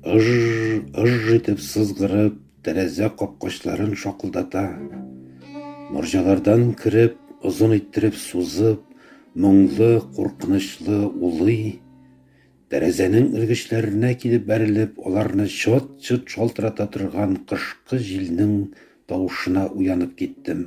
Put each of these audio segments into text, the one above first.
Ыж-ыж итеп сызгырып, тәрәзә капкачларын шакылдата. Морҗалардан кереп, озын иттереп сузып, моңлы, куркынычлы улый. Тәрәзәнең элгечләренә килеп бәрелеп, аларны чот-чот шалтырата торган кышкы җилнең тавышына уянып киттем.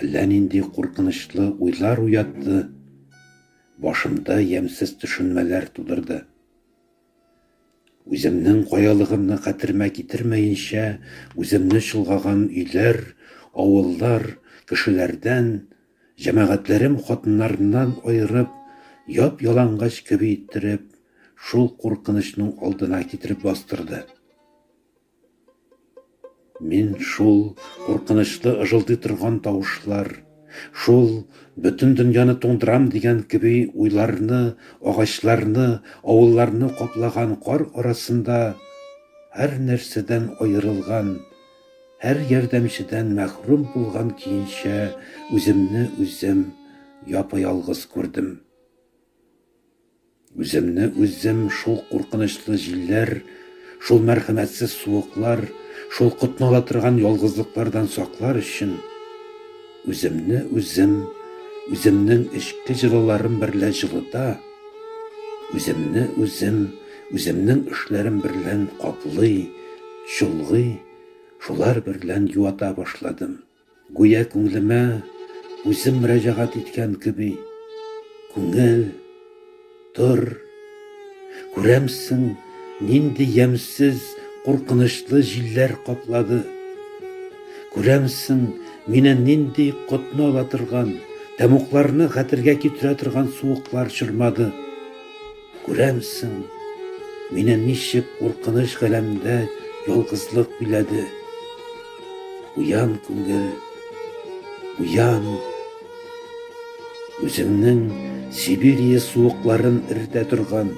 Әллә нинди куркынычлы уйлар уятты, башымда ямьсез төшенмәләр тудырды. Үземнең каялыгымны хәтеремә китермәенчә, үземне чолгаган өйләр, авыллар, кешеләрдән, җәмәгатьләрем хатыннарыннан аерып, яп-ялангач кеби иттереп, шул куркынычның алдына китереп бастырды. Мин шул куркынычлы ыжылдый торган тавышлар, шул бөтен дөньяны туңдырам дигән кеби уйларны, агачларны, авылларны каплаган кар арасында һәрнәрсәдән аерылган, һәр ярдәмчедән мәхрүм булган көенчә үземне үзем япа-ялгыз күрдем. Үземне үзем шул куркынычлы җилләр, шул мәрхәмәтсез суыклар, шул котнала торган ялгызлыклардан саклар өчен, үземне үзем үземнең эчке җылыларым берлә җылыта, үземне үзем үземнең эшләрем берлән каплый, чолгый, шулар берлән юата башладым. Гүя күңелемә үзем мөрәҗәгать иткән кеби, Күңел, тор! Күрәмсең, нинди ямьсез, куркынычлы җилләр каплады. Күрәмсең, мине нинди котны ала торган, тәмугларны хәтергә китерә торган суыклар чормады. Күрәмсең, мине ничек куркыныч галәмдә ялгызлык биләде. Уян, күңел, уян. Үзеңнең Сибирия суыкларын эритә торган,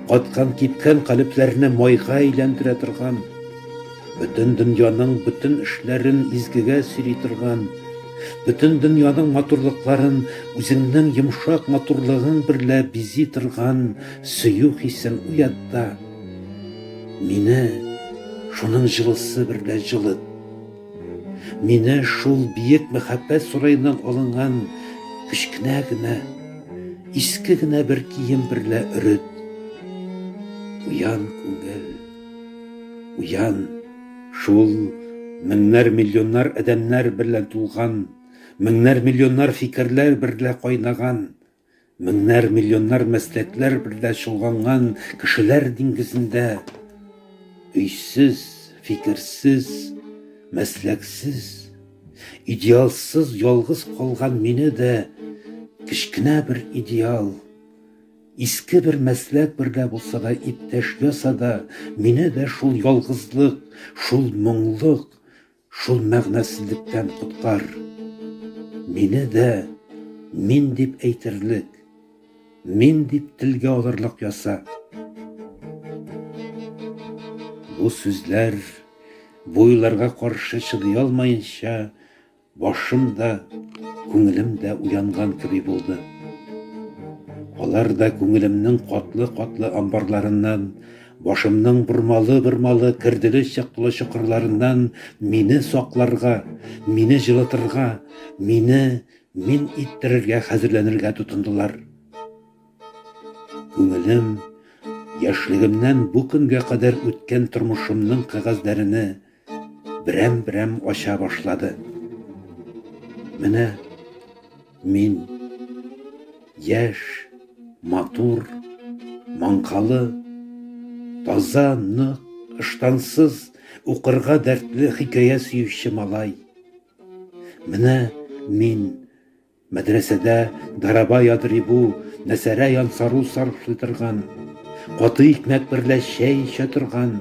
каткан-кипкән калебләрне майга әйләндерә торган, Бөтен дөньяның бөтен эшләрен изгегә сөйли торган, бөтен дөньяның матурлыкларын үзеңнең йомшак матурлыгың берлә бизи торган сөю хисен уят та, мине шуның җылысы берлә җылыт. Мине шул биек мәхәббәт сараеннан алынган кечкенә генә, иске генә бер кием берлә өрет. Куян күңел. Уян, шул меңнәр-миллионнар адәмнәр берлә тулган, меңнәр-миллионнар фикерләр берлә кайнаган, меңнәр-миллионнар мәсләкләр берлә чолганган кешеләр диңгезендә өйсез, фикерсез, мәсләксез, идеалсыз ялгыз калган мине дә кечкенә бер идеал, Иске бер мәсләк берлә булса да иптәш яса да, мине дә шул ялгызлык, шул моңлык, шул мәгънәсезлектән коткар. Мине дә мин дип әйтерлек, мин дип телгә алырлык яса. Бу сүзләр, бу уйларга каршы чыдый алмаенча, Башым да, күңелем дә уянган кеби булды. Алар да күңелемнең катлы-катлы амбарларыннан, башымның бормалы-бормалы, керделе-чыктылы чокырларыннан мине сакларга, мине җылытырга, мине мин иттерергә хәзерләнергә тотындылар. Күңелем, яшьлегемнән бу көнгә кадәр үткән тормышымның кәгазьләрене, берәм-берәм ача башлады. Менә мин, яшь, матур, маңкалы, таза, нык, ыштансыз, укырга дәртле хикәя сөюче малай. Менә мин, Мәдрәсәдә Дараба ядрибу, мәсәрә янсару сарыфлый торган, каты икмәк берлә чәй эчә торган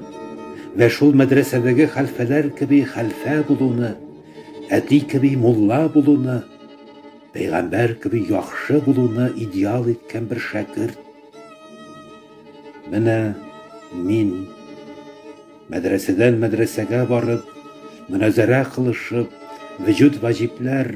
вә шул мәдрәсәдәге хәлфәләр кеби хәлфә булуны, әти кеби мулла булуны, пәйгамбәр кеби яхшы булуны идеал иткән бер шәкерт. Менә мин, мәдрәсәдән мәдрәсәгә барып, моназарә кылышып, вөҗүд ваҗибләр,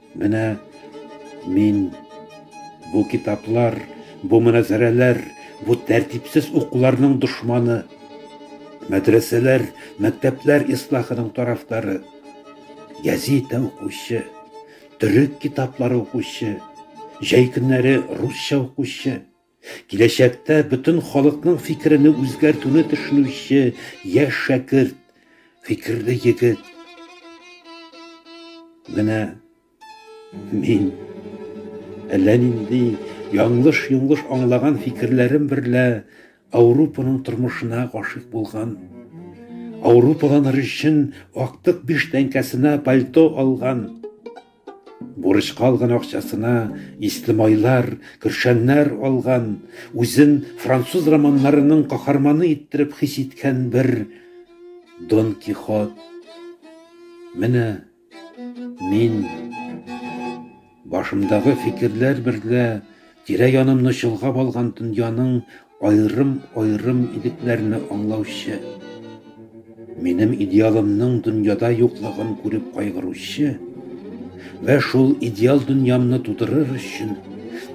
Менә мин бу китаплар, бу мөнәзарәләр, бу тәртипсез укуларның дошманы, мәдрәсәләр, мәктәпләр ислахының тарафдары, гәзитә укучы, төрек китаплары укучы, җәй көннәре русча укучы, Киләчәктә бөтен халыкның фикерене үзгәртүне төшенүче яшь шәкерт, фикерле егет. Менә мин әллә нинди яңлыш-йоңлыш аңлаган фикерләрем берлә Ауропаның тормышына гашыйк булган. Ауропаланыр өчен актык биш тәңкәсенә пальто алган. Бурычка алган акчасына исле майлар, көршәннәр алган, үзен француз романнарының каһарманы иттереп хис иткән бер Дон Кихот. Менә мин башымдагы фикерләр берлә тирә-янымны чолгап алган дөньяның Аерым-аерым егетләрне аңлаучы, минем идеалымның дөньяда юклыгын күреп кайгыручы вә шул идеал дөньямны тудырыр өчен,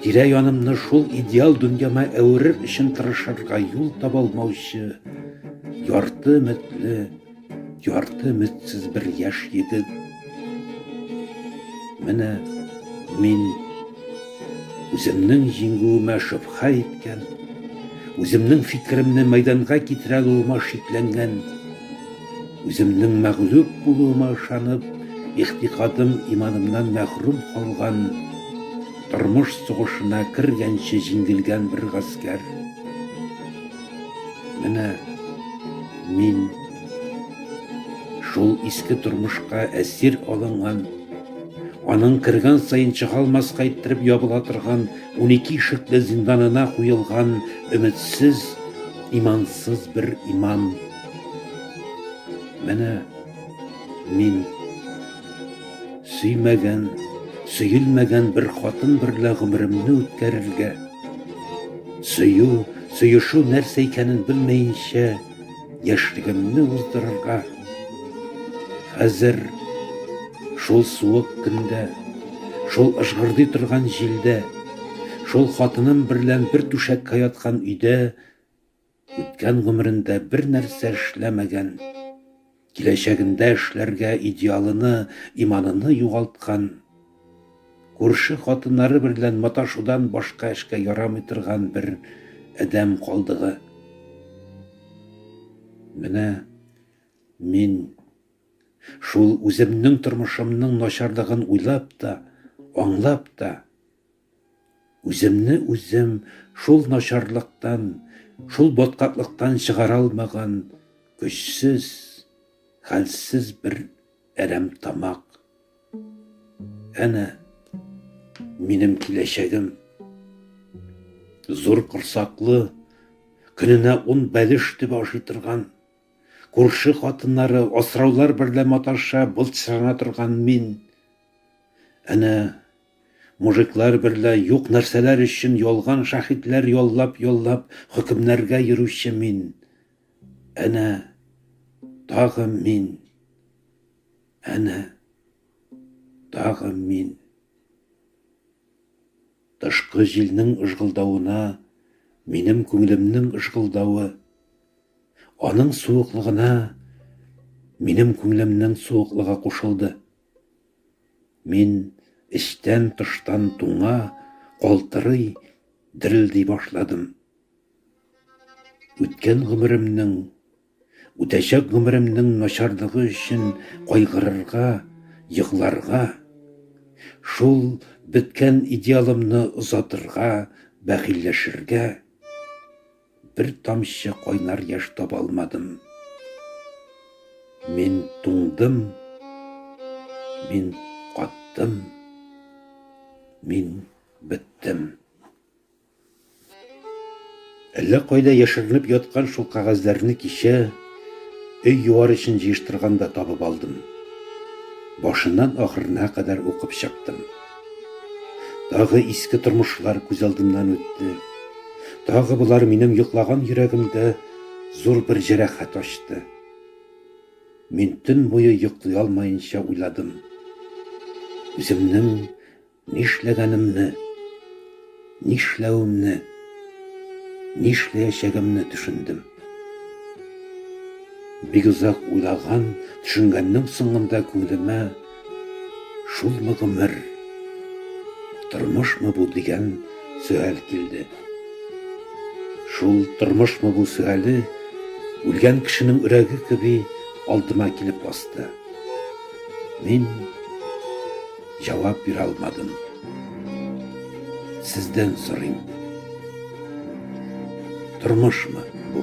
тирә-янымны шул идеал дөньяма әверер өчен тырышырга юл таба алмаучы ярты өметле, Ярты өметсез бер яшь егет. Менә мин үземнең җиңүемә шөбһә иткән, үземнең фикеремне мәйданга китерә алуыма шикләнгән, үземнең мәгълүб булуыма ышанып, ихтикадым иманымнан мәхрүм калган, тормыш сугышына кергәнче җиңелгән бер гаскәр. Менә мин шул иске тормышка әсир алынган, аның кергән саен чыга алмаска иттереп ябыла торган 12 ишекле зинданына куелган өметсез, имансыз бер имам. Менә мин Сөймәгән, сөелмәгән бер хатын берлә гомеремне үткәрергә, сөю, сөешү нәрсә икәнен белмәенчә, яшьлегемне уздырырга. Хәзер шул суык көндә, шул ыжгырдый торган җилдә, шул хатыным берлән бер түшәккә яткан өйдә үткән гомерендә бернәрсә эшләмәгән, киләчәгендә эшләргә идеалыны, иманыны югалткан, күрше хатыннары берлән маташудан башка эшкә ярамый торган бер адәм калдыгы. Менә мин шул үземнең тормышымның начарлыгын уйлап та, аңлап та, Үземне үзем шул начарлыктан, шул баткаклыктан чыгара алмаган көчсез, хәлсез бер әрәмтамак. Әнә, минем киләчәгем. Зур корсаклы, көненә ун бәлеш төбе ашый торган, күрше хатыннары, асраулар берлә маташа, былчырана торган мин. Әнә, Мужиклар берлә юк нәрсәләр өчен ялган шаһитләр яллап-яллап хөкемнәргә йөрүче мин. Әнә, тагы мин. Әнә, тагы мин. Тышкы җилнең ыжгылдавына минем күңелемнең ыжгылдавы, аның суыклыгына минем күңелемнең суыклыгы кушылды. Мин эчтән-тыштан туңа, калтырый, дерелди башладым. Үткән гомеремнең, үтәчәк гомеремнең начарлыгы өчен кайгырырга, егларга, шул беткән идеалымны озатырга, бәхилләшергә. бер тамчы кайнар яшь таба алмадым. Мин туңдым, мин каттым, мин беттем. Әллә кайда яшеренеп яткан шул кагазләрне кичә өй юар өчен җыештырганда табып алдым. Башыннан ахырына кадәр укып чыктым. Тагы иске тормышлар күз алдымнан үтте. Тагы болар минем йоклаган йөрәгемдә зур бер җәрәхәт ачты. Мин төн буе йоклый алмаенча уйладым. Үземнең нишләгәнемне. Нишләвемне, нишләячәгемне төшендем. Бик озак уйлаган, төшенгәннең соңында күңелемә Шулмы гомер, тормышмы бу дигән сөаль килде. Шул тормышмы бу сөале, үлгән кешенең өрәге кеби, алдыма килеп басты. Мин. Җавап бирә алмадым. Сездән сорыйм. Тормышмы бу?